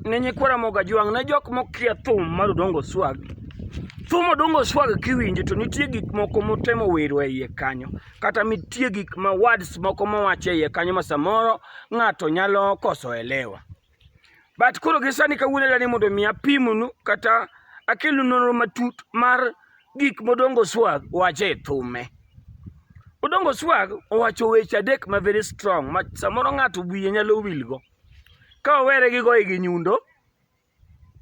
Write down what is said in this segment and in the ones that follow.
ne nyikwa Ramogi Ajwang' ne jok mokia thum mar Odongo Swag. Thum Odongo Swag kiwinjo to nitie gik moko motemo wero e iye kanyo, kata nitie gik ma words moko mowacho e iye kanyo ma samoro ng'ato nyalo koso elewa. But koro gi sani kawuono dani mondo mi apimnu kata akelnu nonro matut mar gik modongo swag wacho e thume. Odongo swag owacho weche adek ma very strong ma samoro ng'ato wiye nyalo wilgo. go. Ka owere gi goye gi nyundo,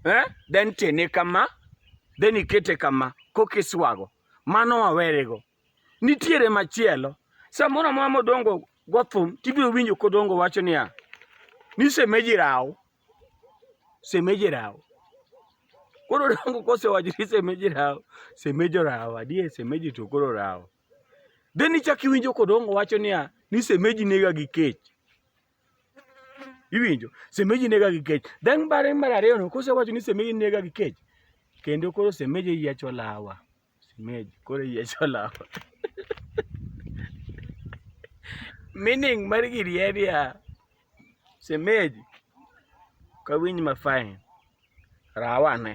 eh, then tene kama, then ikete kama, kokiswago. Mano wawerego. Nitiere machielo. Samoro amora modongo gothum, tibiro winjo kodongo wacho niya, ni semeji raw. Semeji raw. Koro dongo kosewacho ni semeji raw, semeji oraw. Adier semeji to koro oraw. Then ichak iwinjo kodongo wacho niya, ni semeji nega gi kech. Iwinjo? Semeji nega gi kech. Then bare mar ariyo no kosewacho ni semeji nega gi kech, kendo koro semeji yiecho lawa. Semeji koro yiecho lawa. Meaning mar giri en ya semeji kawinj ma fine rawa ne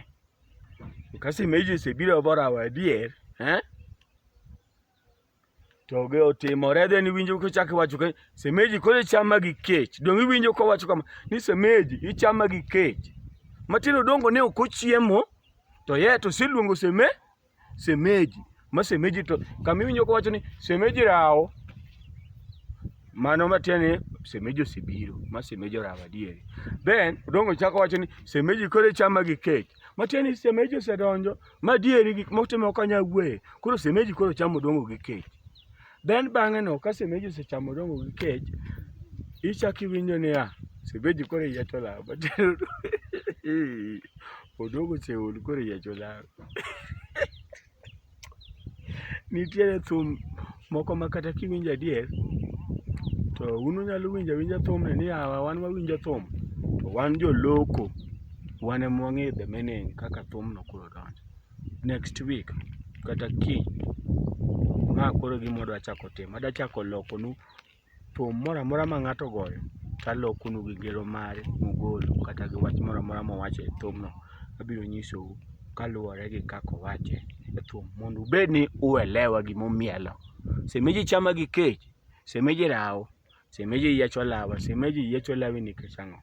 ka semeji osebiro bo rawa adier eh? To ge otimore then iwinjo kochak iwacho ka semeji koro ichama gi kech. Dong' iwinjo kowacho kama ni semeji ichama gi kech. Matindo dongo ne ok ochiemo to yet oseluongo seme semeji. Ma semeji to kama iwinjo kowacho ni semeji rawo. Mano matiende ni semeji osebiro. Ma semeji orawo adieri. Then odongo chako wacho ni semeji koro ichama gi kech. Matiende ni semeji osedonjo madieri gik motimo ok anyal wuoye. Koro semeji koro chamo odongo gi kech. Then bang'e no ka semeji osechamo odongo gi kech, ichak iwinjo niya, semeji koro iye to lal. Odongo oseol koro iye to lal. Nitiere thum moko ma kata kiwinjo adier to un unyalo winjo awinja thumni ni yawa wan wawinjo thum to wan joloko wan ema wang'eyo the meaning kaka thumno koro donjo. Next week kata kiny ma koro e gima wadwa chako timo. Adwa chako lokonu Thum moro amora ma ng'ato ogoyo to alokonu gi ngero mare mugolo kata gi wach moro amora mowacho e thumno abiro nyisou kaluwore gi kaka owache e thum mondo ubed ni uelewa gima omielo. Semeji chama gi kech, semeji rawo, semeji yiecho lawa, semeji yiecho lawi nikech ang'o?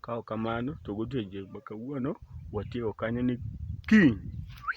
Ka ok kamano to godiechieng' ma kawuono watieko kanyo ni kiny.